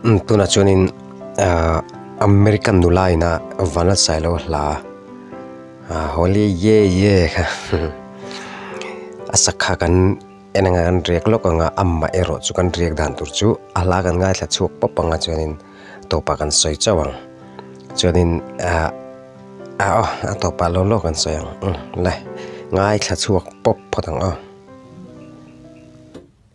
Tunah chuanin American nulaina Vanessa ilo hla a Holly ye ye kha a sakha kan en anga kan riak lawk anga amah erawh chu kan riak dan tur chu a hla kan ngaithla chhuak pawp panga chuanin tawpah kan sawi chauh ang chuanin ah ah aw a tawpah lo lo kan sawi ang le ngaithla chhuak pawp phawt ang aw.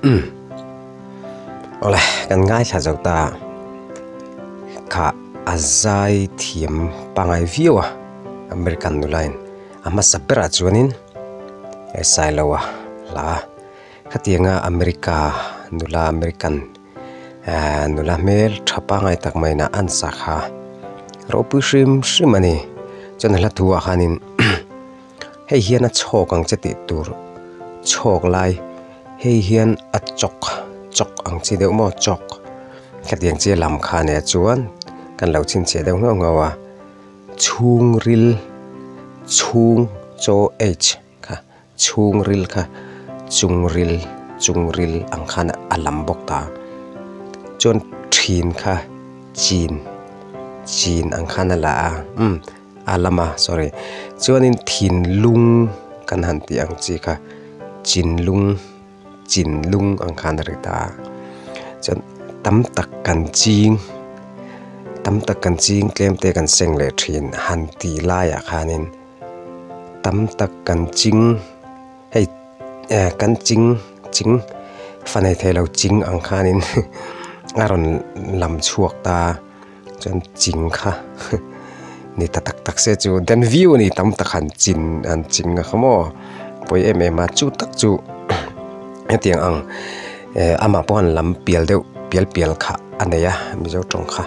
Umm awle kan ngaithla zo ta kha a zai thiam pangai viau a american nulain a hmasa berah chuanin exile lo a hla a khatianga america nula american -- Aaa nula hmel tha pangngai tak mai na an sak ha ropui hrim hrim ani chuan a hla thu ah khanin hei hian a chhawk ang che tih tur chhawk lai hei hian a chawk chawk ang che deuh maw chawk hetiang che lam kha nen chuan kan lo chhin chhe deuh nghauh nghauh a chhungril chhung chaw H. kha chhung ril kha chung ril chung ril ang khan a lam bawk ta chuan thin kha chin chin ang khan a la a umm a lam a sorry chuanin thinlung kan han tih ang chi kha chinlung chinlung ang khan a ri ta a chuan tam tak kan ching tam tak kan ching tlem te kan seng leh thin han tih laiah khanin. tam tak kan ching hei eh kan ching ching fanei theilo ching ang khanin a rawn lam chhuak ta a chuan ching kha ni ta tak tak se chu den viu a ni tam tak han chin han ching a kha maw pawi em em a chu tak chu hetiang ang eh amah pawh han lam pial deuh pial pial kha a nei a mizo tawng kha.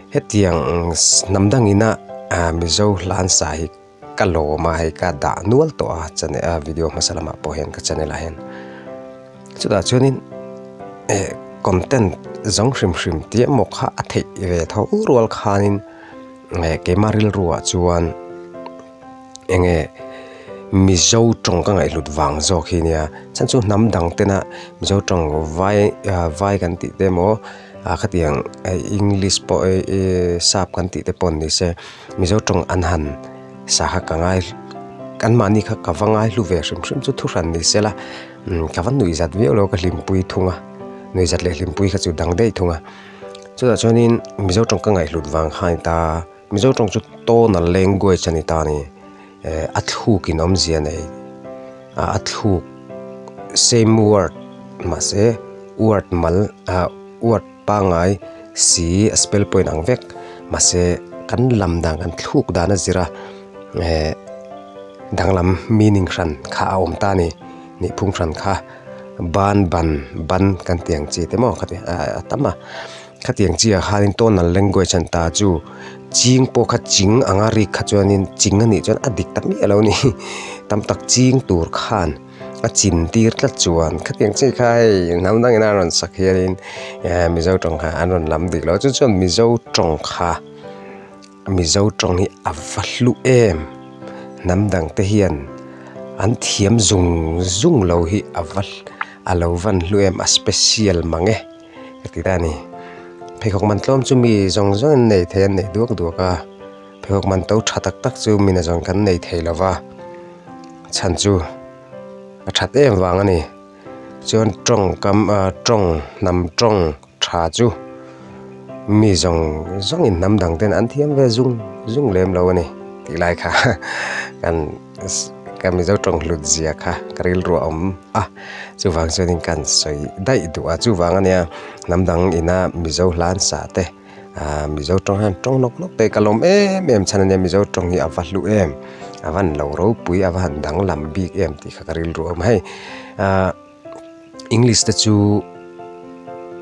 Hetiang hnam dang ina Mizo hlan sa hi ka lawma hei ka dah nual tawh a channel a video hmasa lamah pawh hian ka channel ah hian chutah chuanin eh content zawng hrim hrim te emaw kha a theih ve tho rual khanin eh keima rilru ah chuan-- enge mizo tawng ka ngaihhlut vang zawk hi nia chhan chu hnam dang tena mizo tawng vai ah vai kan tih te emaw ah khatiang english pawh eehh sap kan tih te pawh an ni se mizo tawng an han sangha ka ngai kanmahni kha ka va ngaihhlu ve hrim hrim chu thu hran ni sela umm ka va nuih zat viau lo ka hlimpui thung a nuih zat leh hlimpui kha chu dang daih thung a chutah chuanin mizo tawng ka ngaihhlut vang khai ta. Mizo tawng chu tonal language a ni ta a ni, eh a thluk in awm zia nei ah a thluk same word mahse word mal ah word pangai si a spell pawhin ang vek mahse kan lam dan kan thluk dan a zir a eh danglam meaning hran kha a awm ta a ni, nihphung hran kha ban ban ban kan tih ang chi te maw ka ti ah a tam a. Khatiang chi ah khanin tonal language an ta chu ching pawh kha ching ang a rik kha chuanin ching a nih chuan a dik ta miah a lo ni hi tam tak ching tur khan a chin tir tlat chuan khatiang chi kha hei hnam dang in a rawn sak hianin ehh mizo tawngkha an rawn lam dik lo a chu chuan mizo tawngkha mizo tawng hi a va hlu em hnam dang te hian an thiam zung zung lo hi a va a lo van hlu em a special mang e. ka ti ta a ni pheikhawk man tlawm chu mi zawng zawng in nei thei an nei duak duak a pheikhawk man to tha tak tak chu mina zawng kan nei thei lo va chhan chu a that em vang a ni chuan tawngkam ah tawng hnam tawng tha chu mi zawng zawng in hnam dang ten an thiam ve zung zung lem lo a ni tih lai kha kan-- ka mizo tawng hlut zia kha ka rilruah awm a chuvang chuanin kan sawi daih duh a chuvang a nia hnam dang ina mizo hlansa te ahh mizo tawng hian tawng nawk nawk te ka lawm em em chhan ania mizo tawng hi a va hlu em a va inlo ropui a va han danglam bik em tih kha ka rilru a awm a hei ahh-- English te chu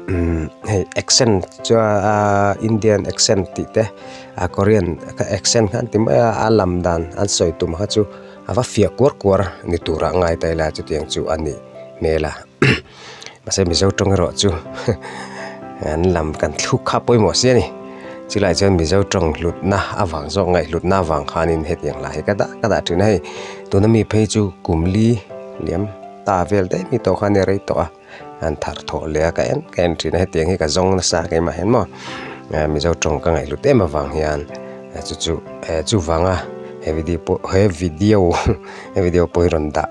umm hei accent chuaa Indian accent tih te a Korean ka accent kha an ti mai a a lam dan an sawi tum kha chu a va fiah kuar kuar ni tura ngai ta ila chutiang chu a nih hmel a mahse Mizo tawng erawh chu an lam kan thluk kha pawimawh sia ni chulaiah chuan Mizo tawng hlutna avang zawk ngaihhlutna avang khanin hetiang hlahah hi ka dah ka dah thin a hei tuna mi phei chu kum li liam-- ta vel daih mi tawh khan i rei tawh a an thar thaw leh a ka en ka en thin a hetiang hi ka zawng nasa ka im ah hian maw ah mizo tawng ka ngaihhlut em avang hian a chu chu eh chuvanga he video pawh he video he video pawh hi rawn dah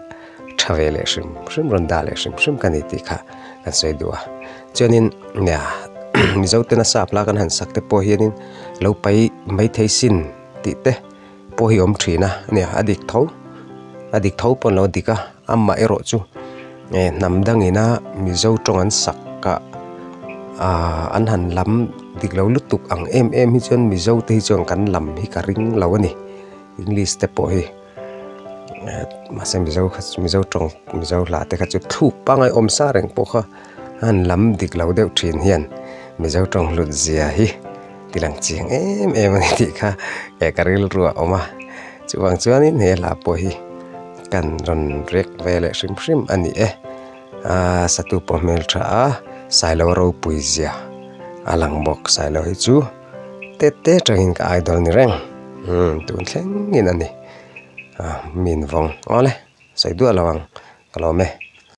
tha ve leh hrim hrim rawn dah leh hrim hrim ka ni tih kha kan sawi duh a chuanin nia mizo te nasa a plak an han sak te pawh hianin lo pai maithei sin tih te. Pawh hi awm thin a nia a dik tho a dik tho pawh an lo dik a amah erawh chu e hnam dang ina mizo tawng an sak kah aaa an han lam dik lo lutuk ang em em hi chuan mizo te hi chuan kan lam hi ka ring lo a ni english te pawh hi ah mahse mizo kha chu mizo tawng mizo hlah te kha chu thluk pangai awm sa reng pawh kha an lam dik lo deuh thin hian mizo tawng hlut zia hi-- I lang chiang em em a ni tih kha eh ka rilru a awm a, chuvang chuanin he hla pawh hi kan rawn rek ve leh hrim hrim a ni e. Aaa satu pawh hmel tha a, Sailo ropui zia a lang bawk, Sailo hi chu têt tê tangin ka idol ni reng, umm tun thlengin a ni, a min vawng awle sawi duah lo ang ka lawm e.